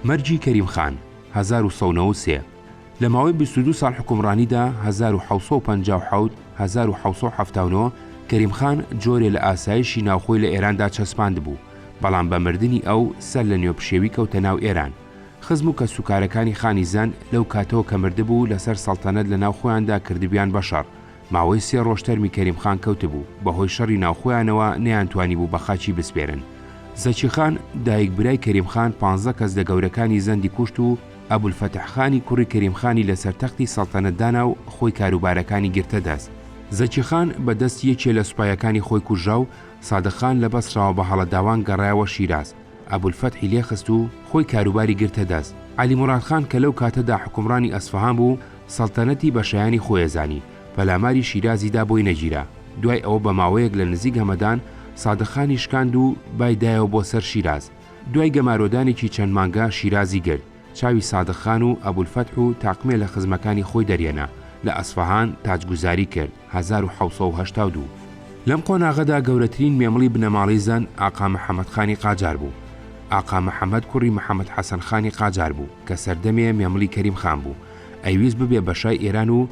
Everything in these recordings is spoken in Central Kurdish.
مەرگی کەریم خان، هەزار و سەد و نەوەد و سێ، لە ماوەی بیست و دوو ساڵ حوکمڕانیدا، هەزار و حەوت سەد و پەنجا و حەوت، هەزار و حەوت سەد و حەفتا و نۆ، کەریم خان جۆرێ لە ئاسایشی ناوخۆی لە ئێراندا چەسپاندبوو، بەڵام بە مردنی ئەو، سەر لە نوێ پشێوی کەوتە ناو ئێران. خزم و کەسوکارەکانی خانی زەند، لەو کاتەوە کە مردبوو، لەسەر سەڵتەنەت لە ناو خۆیاندا کردبویان بە شەڕ. ماوەی سێ ڕۆژ تەرمی کەریم خان کەوتبوو، بەهۆی شەڕی ناوخۆیانەوە نەیانتوانیبوو بە خاچی بسپێرن. زەکی خان، دایک برای کەریم خان پانزە کەس لە گەورەکانی زەندی کوشت و ئەبولفەتح خانی کوڕی کەریم خانی لەسەر تەختی سەڵتەنەت دانا و خۆی کاروبارەکانی گرتە دەست. زەکی خان بە دەست یەکێ لە سوپایەکانی خۆی کوژرا و سادق خان لە بەسڕەوە بە هەڵەداوان گەڕایەوە شیراز. ئەبولفەتحی لێخست و خۆی کاروباری گرتە دەست. عەلی موراد خان کە لەو کاتەدا حوکمڕانی ئەسفەهان بوو، سەڵتەنەتی بە شایانی خۆی ئەزانی، پەلاماری شیرازی دا بۆی نەگیرا. دوای ئەوە بە ماوەیەک لە نزیک هەمەدان، سادق خانی شکاند و بای دایەوە بۆ سەر شیراز. دوای گەمارۆدانێکی چەند مانگە شیرازی گرت، چاوی سادق خان و ئەبولفەتح و تاقمێ لە خزمەکانی خۆی دەرهێنا، لە ئەسفەهان تاجگوزاری کرد. هەزار و حەوت سەد و هەشتا و دوو. لەم قۆناغەدا گەورەترین مێمڵی بنەماڵەی زەن ئاقا محەمەد خانی قاجار بوو. ئاقا محەمەد کوڕی محەمەد حەسەن خانی قاجار بوو کە سەردەمێ مێمڵی کەریم خان بوو، ئەیویست ببێ بە شای ئێران و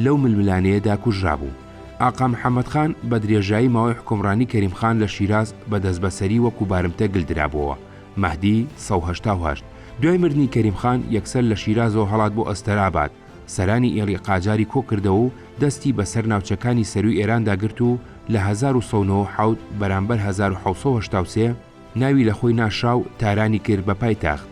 لەو ململانێیەدا کوژرابوو. ئاقا محەمەد خان بە درێژایی ماوەی حوکمڕانی کەریم خان لە شیراز بە دەستبەسەری وەکوو بارمتە گل درابۆوە، مەهدی، سەد و هەشتا و هەشت. دوای مردنی کەریم خان یەکسەر لە شیرازەوە هەڵات بۆ ئەستەراباد. سەرانی ئێڵی قاجاری کۆ کردەوە و دەستی بە سەر ناوچەکانی سەرووی ئێراندا گرت و لە هەزار و سەد و نەوەد و حەوت بەرامبەر هەزار و حەوت سەد و هەشتا و سێ ناوی لە خۆی ناشرا و تارانی کرد بە پایتەخت.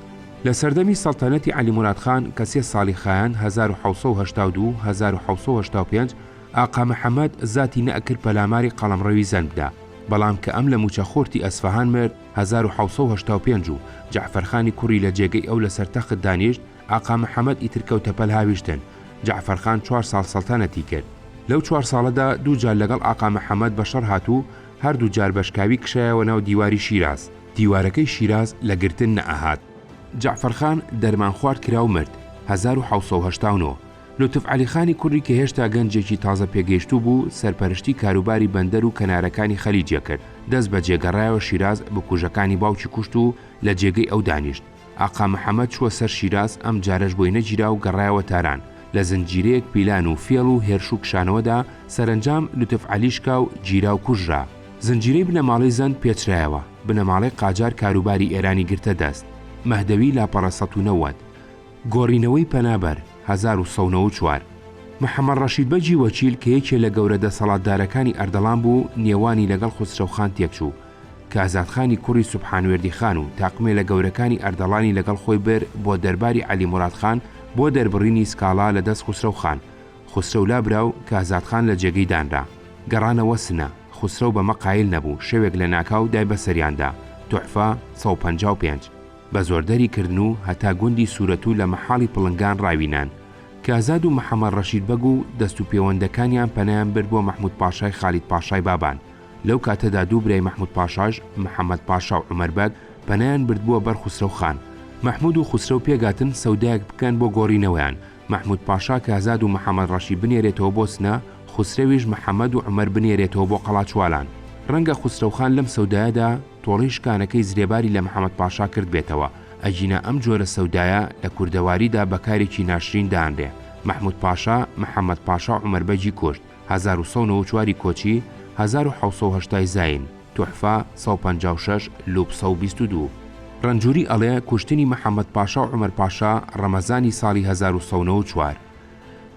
لە سەردەمی سەڵتەنەتی عەلی موراد خان کە سێ ساڵی خایاند، هەزار و حەوت سەد و هەشتا و دوو، هەزار و حەوت سەد و هەشتا و پێنج، ئاقا محەمەد زاتی نەئەکرد پەلاماری قەڵەمڕەوی زەند بدا، بەڵام کە ئەم لە مووچە خۆرتی ئەسفەهان مرد، هەزار و حەوت سەد و هەشتا و پێنج، و جەعفەرخانی کوڕی لە جێگەی ئەو لە سەر تەخت دانیشت، ئاقا محەمەد ئیتر کەوتە پەل هاویشتن، جەعفەر خان چوار ساڵ سەڵتەنەتی کرد. لەو چوار ساڵەدا دوو جار لەگەڵ ئاقا محەمەد بە شەڕ هات و هەر دوو جار بەشکاوی کشایەوە ناو دیواری شیراز. دیوارەکەی شیراز لە گرتن نەئەهات. جەعفەر خان دەرمان خوارد کرا و مرد، هەزار و حەوت سەد و هەشتا و نۆ. لوتف عەلی خانی کوڕی کە هێشتا گەنجێکی تازە پێگەیشتوو بوو، سەرپەرشتی کاروباری بەندەر و کەنارەکانی خەلیج ئەکرد، دەست بەجێ گەڕایەوە شیراز، بکوژەکانی باوکی کوشت و لە جێگەی ئەو دانیشت. ئاقا محەمەد چووە سەر شیراز، ئەم جارەش بۆی نەگیرا و گەڕایەوە تاران، لە زنجیرەیەک پیلان و فێڵ و هێرش و کشانەوەدا، سەرەنجام لوتف عەلی شکا و گیرا و کوژرا. زنجیرەی بنەماڵەی زەند پێچرایەوە، بنەماڵەی قاجار کاروباری ئێرانی گرتە دەست، مەهدەوی لاپەڕە سەد و نەوەد، گۆڕینەوەی پەنابەر، هەزار و سەد و نەوەد و چوار، محەمەد ڕەشید بەگی وەکیل کە یەکێ لە گەورە دەسەڵاتدارەکانی ئەردەڵان بوو، نێوانی لەگەڵ خوسرەوخان تێکچوو، کە ئازادخانی کوڕی سوبحان وێردیخان و تاقمێلە گەورەکانی ئەردەڵانی لەگەڵ خۆی بر بۆ دەرباری عەلی موراد خان بۆ دەربڕینی سکاڵا لە دەست خوسرەو خان. خوسرەو لابرا و کازاد خان لە جێگەی دانرا. گەڕانەوە سنە. خوسرەو بەمە قایل نەبوو، شەوێک لە ناکاو دای بە سەریاندا، تحفە، سەد و پەنجا و پێنج. بە زۆر دەری کردن و هەتا گوندی سورەتوو لە مەحاڵی پڵنگان ڕاوینان. کازاد و محەمەد ڕەشید بەگ و دەست و پێوەندەکانیان پەنایان برد بۆ مەحموود پاشای خالید پاشای بابان. لەو کاتەدا دوو برای مەحموود پاشاش، محەمەد پاشا و عومەر بەگ، پەنایان بردبووە بەر خوسرەو خان. مەحموود و خوسرەو پێکهاتن سەودایەک بکەن بۆ گۆڕینەوەیان، مەحموود پاشا کهزاد و محەمەد ڕەشی بنێرێتەوە بۆ سنە، خوسرەویش محەمەد و عومەر بنێرێتەوە بۆ قەڵاچوالان. ڕەنگە خوسرەو خان لەم سەودایەدا تۆڵەی شکانەکەی زرێباری لە محەمەد پاشا کردبێتەوە، ئەگینا ئەم جۆرە سەودایە لە کوردەواریدا بە کارێکی ناشرین دانرێ. مەحموود پاشا، محەمەد پاشا و عومەر بەگی کورد. هەزار و سەد و نەوە و چوار ی کۆچی هەزار و حەوت سەد و هەشتا ی زاین تحفە سەد و پەنجا و شەش لوپ سەد و بیست و دوو. رەنجوری ئەڵێ کوشتنی محمد پاشا و عمر پاشا رەمەزانی ساڵی هەزار و سەد و نەوە و چوار.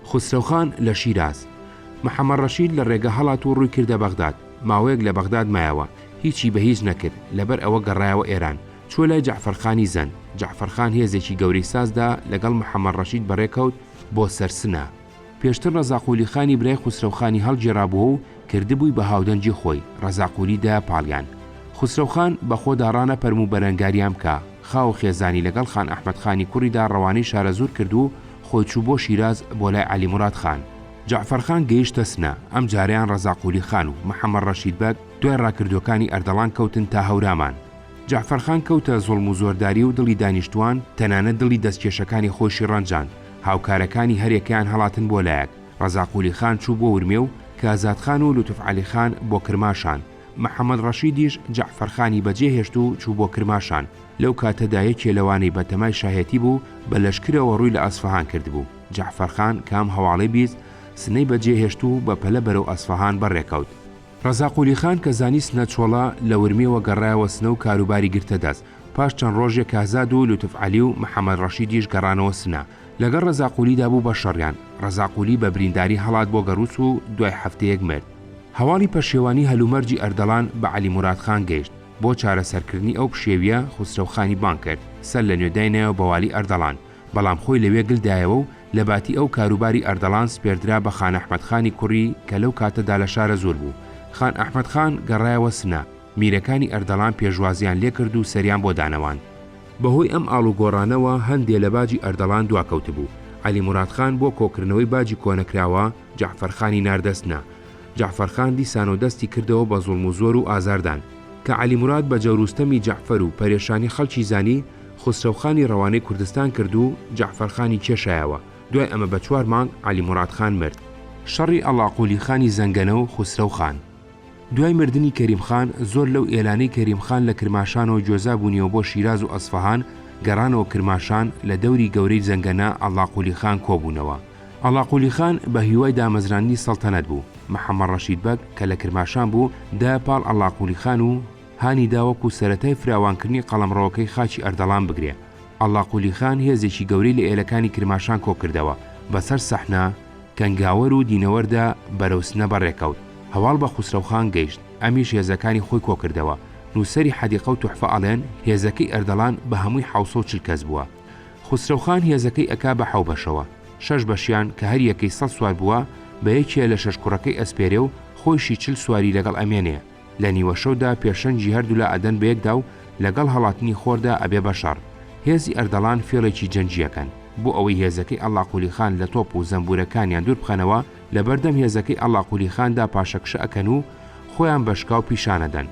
خسرەو خان لە شیراز. محمد رەشید لە رێگە هەڵات و روی کردە بەغداد ماوەیەک لە بەغداد مایەوە هیچی بە هیچ نەکرد لەبەر ئەوە گەڕایەوە ئێران چوە لای جەعفەر خانی زەند جەعفەر خان هێزێکی گەورەی ساز دا لەگەڵ محمد رەشید بەڕێکەوت بۆ سەر سنە پێشتر ڕەزا قولی خانی برای خوسرەو خانی هەڵگێڕابووە و کردبووی بە هاودەنگی خۆی، ڕەزا قولی دایە پاڵیان. خوسرەو خان، بە خۆدا ڕانەپەرم و بەرەنگاریان بکە. خاو و خێزانی لەگەڵ خان ئەحمەد خانی کوڕیدا ڕەوانەی شارەزوور کرد و خۆی چوو بۆ شیراز بۆ لای عەلی موراد خان. جەعفەر خان گەیشتە سنە، ئەم جارەیان ڕەزا قولی خان و محەمەد ڕەشید بەگ دوای ڕاکردووەکانی ئەردەڵان کەوتن تا هەورامان. جەعفەر خان کەوتە زوڵم و زۆرداری و دڵی دانیشتووان، تەنانەت دڵی دەستکێشەکانی خۆیشی ڕەنجاند، هاوکارەکانی هەریەکەیان هەڵاتن بۆ لایەک، ڕەزا قولی خان چوو بۆ ورمێ و کازاد خان و لوتف عەلی خان بۆ کرماشان، محەمەد ڕەشیدیش جەعفەر خانی بەجێ هێشت و چوو بۆ کرماشان، لەو کاتەدا یەکێ لەوانەی بە تەمای شاهێتی بوو بە لەشکرەوە ڕووی لە ئەسفەهان کردبوو، جەعفەر خان کام هەواڵەی بیست، سنەی بەجێ هێشت و بە پەلە بەرەو ئەسفەهان بەڕێکەوت. ڕەزا قولی خان کە زانی سنە چۆڵە، لە ورمێوە گەڕایەوە سنە و کاروباری گرتە دەست. پاش چەند ڕۆژێ کهزاد و لوتف عەلی و محەمەد ڕەشیدیش گەڕانەوە سنە. لەگەڵ ڕەزا قولیدا بوو بە شەڕیان. ڕەزا قولی بە برینداری هەڵات بۆ گەڕووس و دوای هەفتەیەک مرد. هەواڵی پەشێوانی هەلومەرجی ئەردەڵان بە عەلی موراد خان گەیشت. بۆ چارەسەرکردنی ئەو پشێوییە، خوسرەو خانی بانگ کرد، سەر لە نوێ داینایەوە بە والی ئەردەڵان. بەڵام خۆی لەوێ گل دایەوە و لە باتی ئەو کاروباری ئەردەڵان سپێردرا بە خان ئەحمەد خانی کوڕی کە لەو کاتە دا لە شارەزوور بوو. خان ئەحمەد خان گەڕایەوە سنە. میرەکانی ئەردەڵان پێشوازییان لێ کرد و سەریان بۆ دانەواند. بە هۆی ئەم ئاڵوگۆڕانەوە هەندێ لە باجی ئەردەڵان دوا کەوتبوو. عەلی موراد خان بۆ کۆکردنەوەی باجی کۆنەکراوە جەعفەر خانی ناردە سنە. جەعفەر خان دیسانەوە دەستی کردەوە بە زوڵم و زۆر و ئازاردان. کە عەلی موراد بە جەور و ستەمی جەعفەر و پەرێشانی خەڵکی زانی، خوسرەوخانی رەوانەی کوردستان کرد و جەعفەرخانی کێشایەوە، دوای ئەمە بە چوار مانگ عەلی موراد خان مرد. شەڕی ئاڵاقولی خانی زەنگەنە و خوسرەو خان. دوای مردنی کەریم خان، زۆر لەو ئێلانەی کەریم خان لە کرماشانەوە گوێزا بوونیەوە بۆ شیراز و ئەسفەهان، گەڕانەوە کرماشان، لە دەوری گەورەی زەنگەنە ئاڵاقولی خان کۆ بوونەوە. ئاڵاقولی خان بە هیوای دامەزراندنی سەڵتەنەت بوو، محەمەد رەشید بەگ کە لە کرماشان بوو، دایە پاڵ ئاڵاقولی خان و، هانی دا وەکو سەرەتای فراوانکردنی قەڵەمڕەوەکەی خاکی ئەردەڵان بگرێ. ئەڵڵا قولی خان هێزێکی گەورەی لە ئێلەکانی کرماشان کۆکردەوە، بەسەر سەحنە، کەنگاوەر و دینەوەردا بەرەو سنە بەڕێکەوت، هەواڵ بە خوسرەو خان گەیشت، ئەمیش هێزەکانی خۆی کۆکردەوە. نووسەری حەدیقە و توحفە ئەڵێن، هێزەکەی ئەردەڵان بە هەمووی حەوت سەد و چل کەس بووە. خوسرەو خان هێزەکەی ئەکا بە حەو بەشەوە. شەش بەشیان کە هەر یەکەی سەد سوار بووە، بە یەکێ لە شەش کوڕەکەی ئەسپێرێ و خۆیشی چل سواری لەگەڵ ئەمێنێ. لە نیوەشەودا پێشەنگی هەردولا ئەدەن بەیەکدا و لەگەڵ هەڵاتنی خۆردا ئەبێ بەشەڕ. هێزی ئەردەڵان فێڵێکی جەنگی ئەکەن. بۆ ئەوەی هێزەکەی ئەڵاقولی خان لە تۆپ و زەمبورەکانیان دوور بخەنەوە، لەبەردەم هێزەکەی ئەڵاقولی خاندا پاشەکشە ئەکەن و خۆیان بە شکاو پیشان ئەدەن.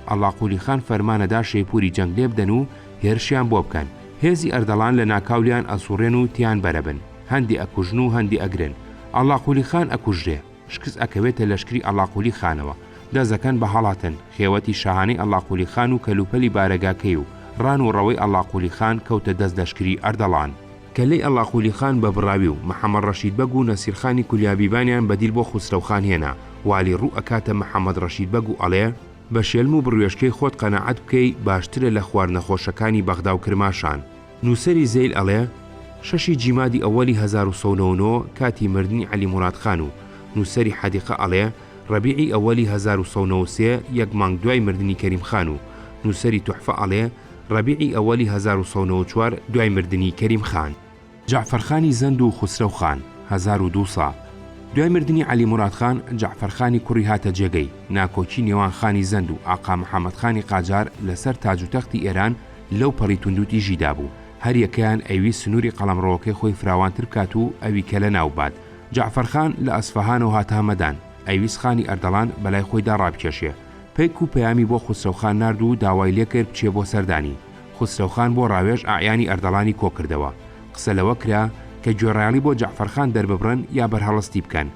ئەڵاقولی خان فەرمان ئەدا شەیپوری جەنگ لێبدەن و هێرشیان بۆ بکەن. هێزی ئەردەڵان لە ناکاو لێیان ئەسوڕێن و تێیان بەرەبن. هەندێ ئەکوژن و هەندێ ئەگرن. ئەڵاقولی خان ئەکوژرێ. شکست ئەکەوێتە لەشکری ئەڵاقولی خانەوە، دەست دەکەن بە هەڵاتن، خێوەتی شاهانەی ئەڵاقولی خان و کەلوپەلی بارەگاکەی و ڕان و ڕەوەی ئەڵاقولی خان کەوتە دەست لەشکری ئەردەڵان. کەللەی ئەڵاقولی خان بە بڕاوی و محەمەد ڕەشید بەگ و نەسیرخانی کولیابیبانیان بەدیل بۆ خوسرەو خان هێنا، والی ڕوو ئەکاتە محەمەد ڕەشید بەگ و ئەڵێ، بە شێلم و بڕوێشکەی خۆت قەناعەت بکەی باشترە لە خوار نەخۆشەکانی بەغدا و کرماشان. نووسەری زەیل ئەڵێ، شەشی جیمادی ئەوەلی هەزار و سەد و نەوەد و نۆ کاتی مردنی عەلی موراد خان و نووسەری حەدیقە ئەڵێ، رەبیعی ئەوەلی هەزار و سەد و نەوەد و سێ یەک مانگ دوای مردنی کەریم خان و نووسەری توحفە ئەڵێ، رەبیعی ئەوەلی هەزار و سەد و نەوەد و چوار دوای مردنی کەریم خان. جەعفەر خانی زەند و خوسرەو خان، هەزار و دوو سا، دوای مردنی عەلی موراد خان، جەعفەر خانی کوڕی هاتە جێگەی، ناکۆکی نێوان خانی زەند و ئاقا محەمەد خانی قاجار لە سەر تاج و تەختی ئێران، لەو پەڕی توندوتیژیدا بوو، هەریەکەیان ئەیویست سنووری قەڵەمڕەوەکەی خۆی فراوانتر بکات و ئەوی کە لەناو ببات. جەعفەرخان لە ئەسفەهانەوە هاتە هەمەدان، ئەیویست خانی ئەردەڵان بەلای خۆیدا ڕابکێشێ. پەیک و پەیامی بۆ خوسرەوخان نارد و داوای لێ کرد بچێ بۆ سەردانی. خوسرەوخان بۆ ڕاوێژ ئەعیانی ئەردەڵانی کۆ کردەوە. قسە لەوە کرا کە گوێڕایەڵی بۆ جەعفەرخان دەرببڕن یا بەرهەڵستی بکەن.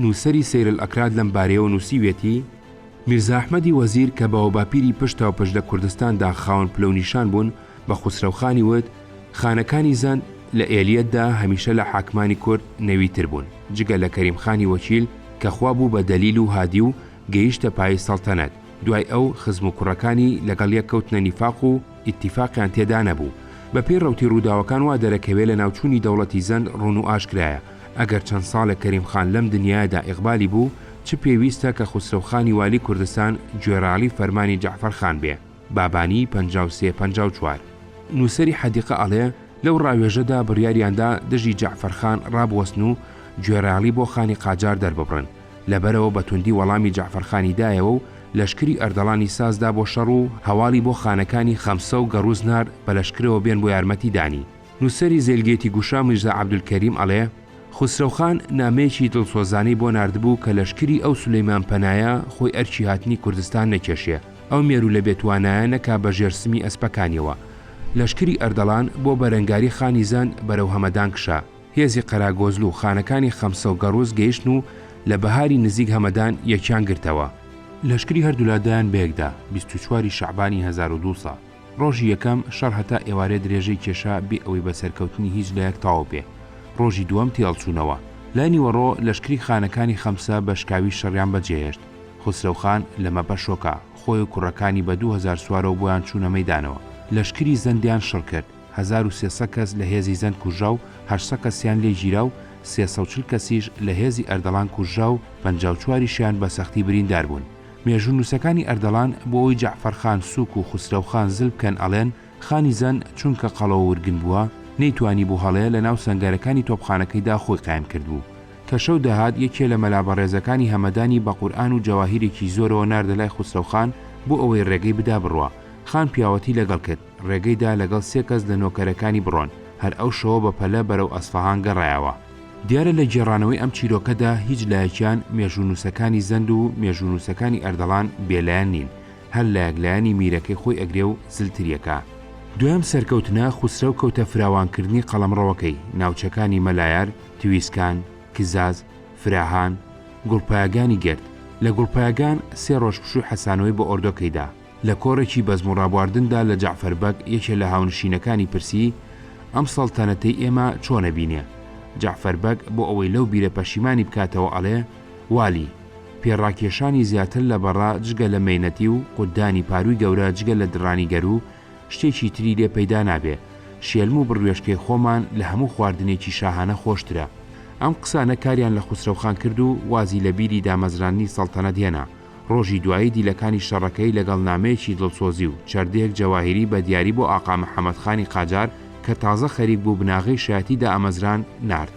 نووسەری سەیرەلاکراد لەم بارەیەوە نووسیویەتی، میرزا ئەحمەدی وەزیر کە باوباپیری پشتاوپشت لە کوردستاندا خاوەن پلە و نیشان بوون، بە خوسرەوخانی وت، خانەکانی زەند لە ئێلیەتدا هەمیشە لە حاکمانی کورد نەویتر بوون، جگە لە کەریمخانی وەکیل کە خوا بوو بە دەلیل و هادی و گەیشتە پایەی سەڵتەنەت، دوای ئەو خزم و کوڕەکانی لەگەڵ یەک کەوتنە نیفاق و ئیتیفاقیان تێدا نەبوو. بەپێی ڕەوتی ڕووداوەکان وا دەرەکەوێ لەناوچوونی دەوڵەتی زەند ڕوون و ئاشکرایە، ئەگەر چەند ساڵێک کەریم خان لەم دنیایەدا ئیقبالی بوو، چ پێویستە کە خوسرەو خانی والی کوردستان گوێڕاڵی فەرمانی جەعفەر خان بێ، بابانی، پەنجا و سێ، پەنجا و چوار. نووسەری حەدیقە ئەڵێ، لەو ڕاوێژەدا بڕیاریان دا دژی جەعفەر خان ڕابوەستن و گوێڕاڵی بۆ خانی قاجار دەرببڕن، لە بەرەوە بە توندی وەڵامی جەعفەر خانی دایەوە و لەشکری ئەردەڵانی ساز دا بۆ شەڕ و هەواڵی بۆ خانەکانی خەمسە و گەڕووز نارد بە لەشکرەوە بێن بۆ یارمەتی دانی. نووسەری زێلگێتی گوشا میرزا عەبدولکەریم ئەڵێ، خوسرەو خان نامەیەکی دڵسۆزانەی بۆ ناردبوو کە لەشکری ئەو سولەیمان پەنایە خۆی ئەرکی هاتنی کوردستان نەکێشێ، ئەو مێروولە بێتوانایە نەکا بە ژێر سمی ئەسپەکانیەوە. لەشکری ئەردەڵان بۆ بەرەنگاری خانی زەند بەرەو هەمەدان کشا. هێزی قەراگۆزلو و خانەکانی خەمسە و گەڕووس گەیشتن و لە بەهاری نزیک هەمەدان یەکیان گرتەوە. لەشکری هەردوولا دایان بەیەکدا، بیست و چوار ی شەعبانی هەزار و دوو سا. ڕۆژی یەکەم شەڕ هەتا ئێوارێ درێژەی کێشا بێ ئەوەی بە سەرکەوتنی هیچ لایەک تەواو بێ. ڕۆژی دووەم تێهەڵچوونەوە. لای نیوەڕۆ لەشکری خانەکانی خەمسە بە شکاوی شەڕیان بەجێهێشت. خوسرەو خان لە مەپە شۆکا. خۆی و کوڕەکانی بە دوو هەزار سوارەوە بۆیان چوونە مەیدانەوە. لەشکری زەندیان شڕ کرد. هەزار و سێ سە کەس لە هێزی زەند کوژرا و هەشت سە کەسیان لێ گیرا و سێ سە و چل کەسیش لە هێزی ئەردەڵان کوژرا و پەنجا و چواریشیان بە سەختی بریندار بوون. مێژوونووسەکانی ئەردەڵان بۆ ئەوەی جەعفەر خان سووک و خوسرەو خان زل بکەن ئەڵێن، خانی زەن چونکە قەڵەو و ورگن بووە، نەیتوانیبوو هەڵێ لە ناو سەنگەرەکانی تۆپخانەکەیدا خۆی قایم کردبوو. کە شەو دەهات یەکێ لە مەلا بەڕێزەکانی هەمەدانی بە قورئان و جەواهیرێکی زۆرەوە ناردە لای خوسرەو خان بۆ ئەوەی ڕێگەی بدا بڕوا. خان پیاوەتی لەگەڵ کرد. ڕێگەی دا لەگەڵ سێ کەس لە نۆکەرەکانی بڕۆن، هەر ئەو شەوە بە پەلە بەرەو ئەسفەهان گەڕایەوە. دیارە لە گێڕانەوەی ئەم چیرۆکەدا هیچ لایەکیان مێژوونووسەکانی زەند و مێژوونووسەکانی ئەردەڵان بێ لایەن نین، هەر لایەک لایەنی میرەکەی خۆی ئەگرێ و زلتری ئەکا. دوایەم سەرکەوتنە، خوسرەو کەوتە فراوانکردنی قەڵەمڕەوەکەی، ناوچەکانی مەلایار، تویسکان، کزاز، فراهان، گوڵپایەگانی گرت، لە گوڵپایەگان سێ ڕۆژ پشووی حەسانەوەی بە ئۆردۆکەی دا. لە کۆڕێکی بەزم و ڕابواردندا لە جەعفەر بەگ، یەکێ لە هاونشینەکانی پرسی، ئەم سەڵتەنەتەی ئێمە چۆنە بینێ؟ جەعفەر بەگ بۆ ئەوەی لەو بیرە پەشیمانی بکاتەوە ئەڵێ، والی، پێ ڕاکێشانی زیاتر لە بەڕە جگە لە مەینەتی و قوددانی پارووی گەورە جگە لە دڕانی گەروو شتێکی تری لێ پەیدا نابێ، شێلم و بڕوێشکەی خۆمان لە هەموو خواردنێکی شاهانە خۆشترە. ئەم قسانە کاریان لە خوسرەوخان کرد و وازی لە بیری دامەزراندنی سەڵتەنەت هێنا. ڕۆژی دوایی دیلەکانی شەڕەکەی لەگەڵ نامەیەکی دڵسۆزی و چەردەیەک جەواهیری بە دیاری بۆ ئاقا محەمەد خانی قاجار کە تازە خەریک بوو بناغەی شایەتی دامەزراند، نارد.